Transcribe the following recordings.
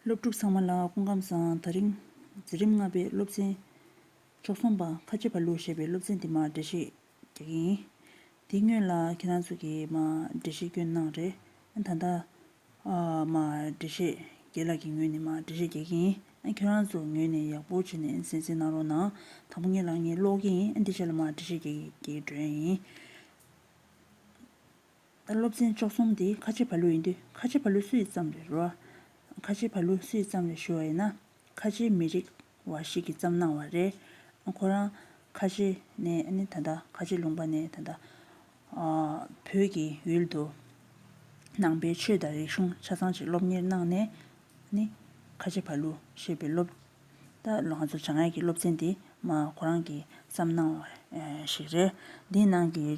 སློབ་ཕྲུག་ཚང་མ་ལ་སྐུ་ཁམས་བཟང་ད་རིང། འཛིན་རིམ་ལྔ་པའི་སློབ་ཚན། མཆོག་གསུམ་པ་ཁ་ཆེ་བ་ལུག་ཞེས་པའི་སློབ་ཚན་དེ་མར་འགྲེལ་བཤད་རྒྱག་གི་ཡིན། དེ་སྔོན་ལ་ཁྱེད་རང་ཚོ་གིས་མར་འགྲེལ་བཤད་སྐྱོན་གནང་རེད། ད་ལྟ། མར་འགྲེལ་བཤད་རྒྱལ་ལགས་ཀྱི་ངོས་ནས་མར་འགྲེལ་བཤད་རྒྱག་གི་ཡིན། ཁྱེད་རང་ཚོ་ངོས་ནས་ཡག་པོ་བྱེད་ནས་གཟན་གཟིགས་གནང་རོགས་གནང། དང་པོ་ངས་ལག་གཉིས་སློག་གི་ཡིན། འདི་ཆ་ལ་མར་འགྲེལ་བཤད་རྒྱག་གི་འགྲོ་ཡ་ཡིན། ད་སློབ་ཚན་བཅུ་གསུམ་དེ་ཁ་ཆེ་བ་ལོས་ཡིན་དུས་ཁ་ཆེ་བ་ལོས་སུ་ཡི་ཙམ་རེ་རོ། ཁ་ཆེ་བ་ལོས་སུ་ཡི་ཙམ་རེ་ཞུ་བ་ཡིན་ན་ཁ་ཆེའི་མི་རིགས་བ་ཞིག་གིས་བརྩམས་གནང་བ་རེད། ཁོ་རང་ཁ་ཆེ་ནས་ནི་ད་ལྟ་ཁ་ཆེ་ལུང་པ་ནས་ད་ལྟ་བོད་ཀྱི་ཡུལ་དུ་ནང་པའི་ཆོས་དང་རིག་གཞུང་ཆ་ཚང་ཅིག་སློབ་གཉེར་གནང་ནས་ནི་ཁ་ཆེ་བ་ལོ་ཞེས་པའི་སློབ་ད་ལོ་ང་ཚོ་བྱང་ཡིག་གི་སློབ་ཚན་དེ་མ་ཁོ་རང་གིས་བརྩམས་གནང་བ་ཞིག་རེད། འདིའི་ནང་གི།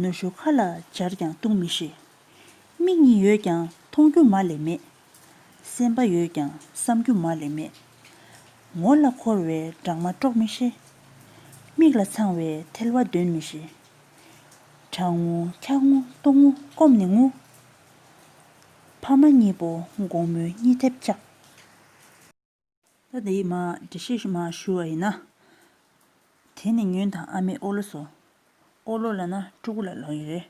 ནུ་ཞོ་ཁ་ལ་སྦྱར་ཀྱང་བཏུང་མི་ཤེས། མིག་གཉིས་ཡོད་ཀྱང་མཐོང་རྒྱུ་མ་ལས་མེད། སེམས་པ་ཡོད་ཀྱང་བསམ་རྒྱུ་མ་ལས་མེད། ངོ་ལ་འཁོར་བའི་སྦྲང་མ་དཀྲོག་མི་ཤེས། མིག་ལ་འཚང་བའི་ཐལ་བ་འདོན་མི་ཤེས། དྲང་ངུ་འཁྱག་ངུ་ལྟོགས་ངུ་སྐོམ་ནི་ངུ། ཕ་མ་གཉིས་པོ་དགོང་མོའི་གཉིད་ཐེབས་ཆགས། ད་དེའི་མ་འདྲི་ཤེས་ཤི་མ་ཞུ་བ་ཡིན་ན། དེ་ནི་ཉོན་དང་ཨ་མའི་ཨོ་ལོ་སོ། ཨོ་ལོ་ལ་ན་ཕྲུ་གུ་ལ་ལོ་ཡི་རེ་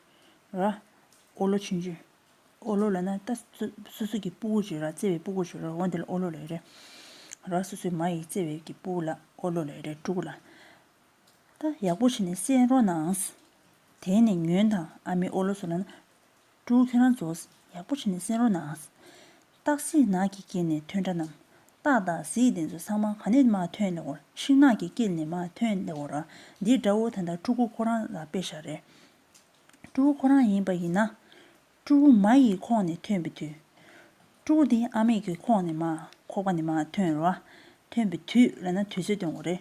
ར། ཨོ་ལོ་ཆུན་ཆུན། ཨོ་ལོ་ལ་ན་རྟ། སོ་སོ་གི་སྤུ་གུ་ཞུ་ར་བརྩེ་བའི་སྤུ་གུ་ཞུ་ར་འོ་འདི་ལ་ཨོ་ལོ་ལ་ཡི་རེ་ར་སོ་སོའི་མ་ཡི་བརྩེ་བའི་གི་སྤུ་གུ་ལ་ཨོ་ལོ་ལ་ཡི་རེ་ཕྲུ་གུ་ལ་ད་ཡག་པོ་བྱས་ནས་བསྲེས་རོགས་ནའང། དེ་ནི་ཉོན་དང་ཨ་མའི་ཨོ་ལོ་སོ་ལ་ན། སྤྲུལ་ཁྱོད་རང་ཚོ། ཡག་པོ་བྱས་ནས་གསན་རོགས་གནང། སྟག་གཟིག་ནགས་ཀྱི་སྐེད་ནས་ཐོན་འདྲ་རྣམས། སྟག་དང་གཟིག་དེ་ཚོ་ཚང་མ་ག་ནས་མ་ཐོན་ལེ་འོར་ཤིང་ནགས་ཀྱི་སྐེད་ནས་མ་ཐོན་ལེ་འོར་འདི་དགྲ་བོ་ད་ལྟ་སྤྲུལ་སྐུ་ཁོ་རང་ལ་དཔེ་ཞག་རེད། སྤྲུལ་སྐུ་ཁོ་རང་ཡིན་པ་ཡིན་ན། སྤྲུལ་སྐུ་མ་ཡི་ཁོག་ནས་ཐོན་པའི་དུས། སྤྲུལ་སྐུ་འདི་ཨ་མེས་ཀྱི་ཁོག་ནས་མ་ཁོག་པ་ནས་མ་ཐོན་རོགས། ཐོན་པའི་དུས་ལ་ན་དུས་ཚོད་སྟོན་དགོས་རེད།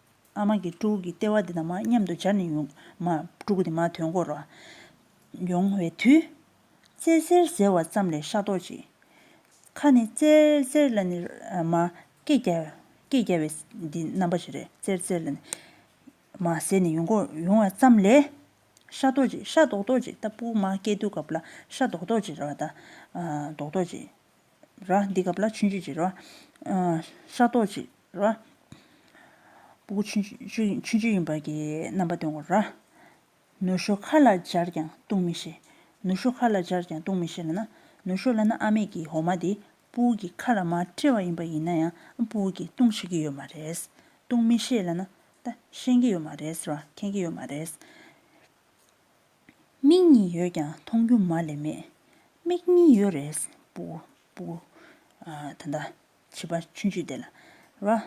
ཨ་མ་གིས་སྤྲུག་གི་ལྟེ་བ་འདི་དང་མ་མཉམ་དུ་སྦྱར་ནས་ཡོང། མ། སྤྲུག་གི་དེ་མ་དོན་སྐོར། ཡོང་བའི་དུས། རྩེ་གསེར་ཟེར་བ་ཙམ་ལས་ཤ་ཏོག་ཅིག། ཁ་ནི། རྩེར་རྩེར་ལ་ནི། མ། སྐད་རྒྱ། སྐད་རྒྱ་བའི། འདི་རྣམ་པ་ཞིག་རེད། རྩེར་རྩེར་ལ་ནི། མ། ཟེར་ནས་ཡོང་སྐོར། ཡོང་བ་ཙམ་ལས། ཤ་ཏོག་ཅིག། ཤ་རྡོག་རྡོག་ཅིག་ལྟ་བུ། མ། སྐད་དུ་གབ་ལ། ཤ་རྡོག་རྡོག་ཅིག་རེད་བ་ད། རྡོག་རྡོག་ཅིག། ར། འདི་ག་བླ་མཆོད་མཆོད་ཅིག་ར། ཤ་རྡོག་ཅིག་ར། སྤུ་གུ་མཆོད་མཆོད་ཡིན་པར་གྱིས་རྣམ་པ་སྟོན་གོ་ར། ནུ་ཞོ་ཁ་ལ་སྦྱར་ཀྱང་བཏུང་མི་ཤེས། ནུ་ཞོ་ཁ་ལ་སྦྱར་ཀྱང་བཏུང་མི་ཤེས་ལ་ན། ནུ་ཞོ་ལ་ན་ཨ་མེས་ཀྱིས་འོ་མ་དེ་སྤུ་གུ་གི་ཁ་ལ་མ་སྤྲེལ་བ་ཡིན་པ་ཡིན་ན་ཡང་སྤུ་གུ་གིས་བཏུང་ཤེས་ཀྱི་ཡོད་མ་རེད། བཏུང་མི་ཤེས་ལ་ན། ད་ཤེས་ཀྱི་ཡོད་མ་རེད་ར་མཁྱེན་གྱི་ཡོད་མ་རེད། མིག་གཉིས་ཡོད་ཀྱང་མཐོང་རྒྱུ་མ་ལས་མེད། མིག་གཉིས་ཡོད་རེས་པུ། པུ། ད་ལྟ་བྱིས་པ་ཆུན་ཆུད་དེ་ལ་ར།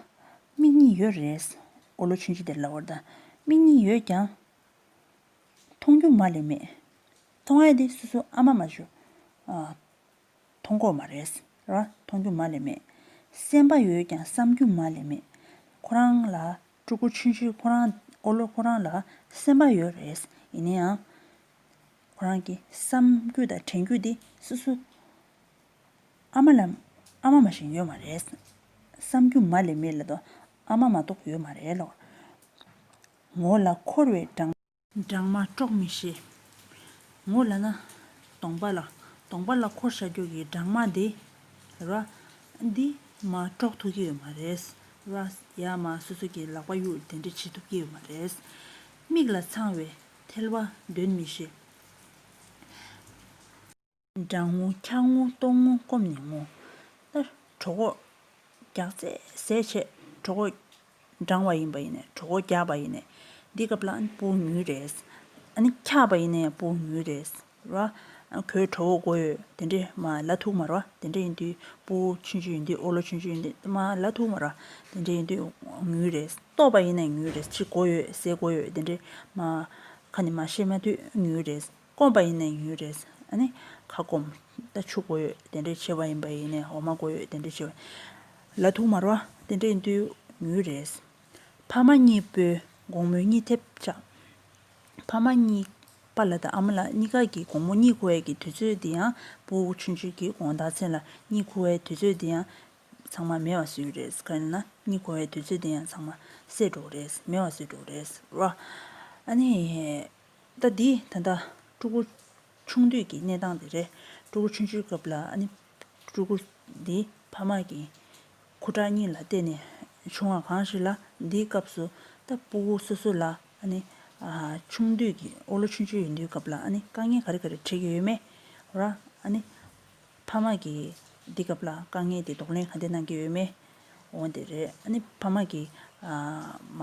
མིག་གཉིས་ཡོད་རེས་འོ་ལོ་ཆུན་ཆུད་དེ་ལ་བར་ད། མིག་གཉིས་ཡོད་ཀྱང། མཐོང་རྒྱུ་མ་ལས་མེད། མཐོང་ཨེ་དེ་སུ་སུ་ཨ་མ་མ་ཞུ། མཐོང་གོ་མ་རེས་ར་མཐོང་རྒྱུ་མ་ལས་མེད། སེམས་པ་ཡོད་ཀྱང་བསམ་རྒྱུ་མ་ལས་མེད། ཁོ་རང་ལ་སྤྲུལ་སྐུ་ཆུང་ཆུང་ཁོ་རང་ཨོ་ལོ་ཁོ་རང་ལ་སེམས་པ་ཡོད་རེད་ཡིན་ན་ཡང། ཁོ་རང་གི་བསམ་རྒྱུ་དང་དྲན་རྒྱུ་དེ་སོ་སོ་ཨ་མ་ལ་ཨ་མ་མ་བཞིན་ཡོད་མ་རེད། བསམ་རྒྱུ་མ་ལས་མི་ལ་དོ་ཨ་མ་མ་གཏོགས་ཡོད་མ་རེད་ལོ། ངོ་ལ་འཁོར་བའི་སྦྲང། སྦྲང་མ་དཀྲོག་མི་ཤེས། ངོ་ལ་ན། སྟོང་པ་ལ། སྟོང་པ་ལ་འཁོར་ཤ་ཁྱོད་ཀྱི་སྦྲང་མ་འདི། ར། འདི། མ་དཀྲོག་ཐུབ་ཀྱི་ཡོད་མ་རེད། ར། ཡ་མ་སོ་སོ་ཀྱི་ལག་པ་གཡུག་དེ་འདྲ་བྱེད་ཐུབ་ཀྱི་ཡོད་མ་རེད། མིག་ལ་འཚང་བའི་ཐལ་བ་འདོན་མི་ཤེས། འབྲང་ངོ་འཁྱག་ངོ་ལྟོགས་ངོ་སྐོམ་ནི་ངོ། ལྟར། གྲོགས་འགོག། རྒྱག། རྩེད་ཟས་བྱེད། གྲོགས་འགོག། འབྲང་བ་ཡིན་པ་ཡིན་ནས་གྲོགས་འགོག་རྒྱག་པ་ཡིན་ནས། འདི་སྐབས་ལ་ཨནི་པུའུ་ཉུལ་རེད། ཨནི་འཁྱག་པ་ཡིན་ནས་པུའུ་ཉུལ་རེད། ར། ཁོའི་གྲོགས་འགོག་དགོས་ཡོད་དེ་འདྲས། མ། ལ་ཐུག་མ་ར། དེ་འདྲས་ཡིན་དུས། པུའུ། ཆུན་ཆུན་ཡིན་དུས་ཨོ་ལོ་ཆུན་ཆུན་ཡིན་དུས་མ། ལ་ཐུག་མ་ར། དེ་འདྲས་ཡིན་དུས། ཉུལ་རེད། ལྟོགས་པ་ཡིན་ནས་ཉུལ་རེད་ཕྱི་དགོ་ཡོད་ཟས་དགོ་ཡོད་དེ་འདྲས། མ། ཁ་ནི་མ་ཤེས་མ་དུས་ཉུལ་རེད། སྐོམ་པ་ཡིན་ན་ཡུན་རེས་ནི་ཁ་སྐོམ། ད་ཆུ་དགོས་ཡོད་དེ་འདྲའི་ཆེ་བ་ཡིན་པ་ཡིན་ནས་འོ་མ་དགོས་ཡོད་དེ་འདྲའི་ཆེ་བ། ལ་དུག་མར་བ་དེ་འདྲའི་འདུས་ཡུན་རེས། ཕ་མ་གཉིས་པོའི་དགོང་མོའི་གཉིད་ཐེབས་ཆག། ཕ་མ་གཉིས་པ་ལ་དང་ཨ་མ་ལ་གཉིས་ཀ་གི་དགོང་མོ་གཉིད་ཁུ་བའི་གི་དུས་ཚོད་འདི་ཡང་སྤུ་ཆུན་ཆུན་གྱི་དགོང་ཟླ་ཚེས་ལ་གཉིད་ཁུ་བའི་དུས་ཚོད་འདི་ཡང་ཚང་མ་མེ་བ་སོད་རེས་ག་རེ་ན་གཉིད་ཁུ་བའི་དུས་ཚོད་འདི་ཡང་ཚང་མ་སད་འགྲོ་རེས་མེ་བ་སོད་འགྲོ་རེས་རོ། ཨ་ནི། ཟླ་འདིའི་ད་ལྟ་སྤྲུལ་སྐུ་ཆུང་དུས་ཀྱི་གནས་སྟངས་དེ་རེད། སྤྲུལ་སྐུ་ཆུང་ཆུང་སྐབས་ལ་ནི་སྤྲུལ་སྐུ་འདི་ཕ་མ་གི་ཁུ་ཁྲག་གཉིས་ལ་བརྟེན་ནས་བྱུང་བ་གང་ཞིག་ལ་འདིའི་སྐབས་སུ་ད་སྤུ་བོ་སོ་སོ་ལ་ནི་ཆུང་དུས་ཀྱི་ཨོ་ལོ་ཆུང་ཆུང་ཡིན་དུས་སྐབས་ལ་ནི་དཀའ་ངལ་ག་རེ་ག་རེ་འཕྲད་ཀྱི་ཡོད་མེད་ར་ནི་ཕ་མ་གི་འདི་སྐབས་ལ་དཀའ་ངལ་དེ་ལྡོག་ལན་ག་དེ་གནང་གི་ཡོད་མེད་འོ་དེ་རེད་ཨ་ནི་ཕ་མ་གི་མ།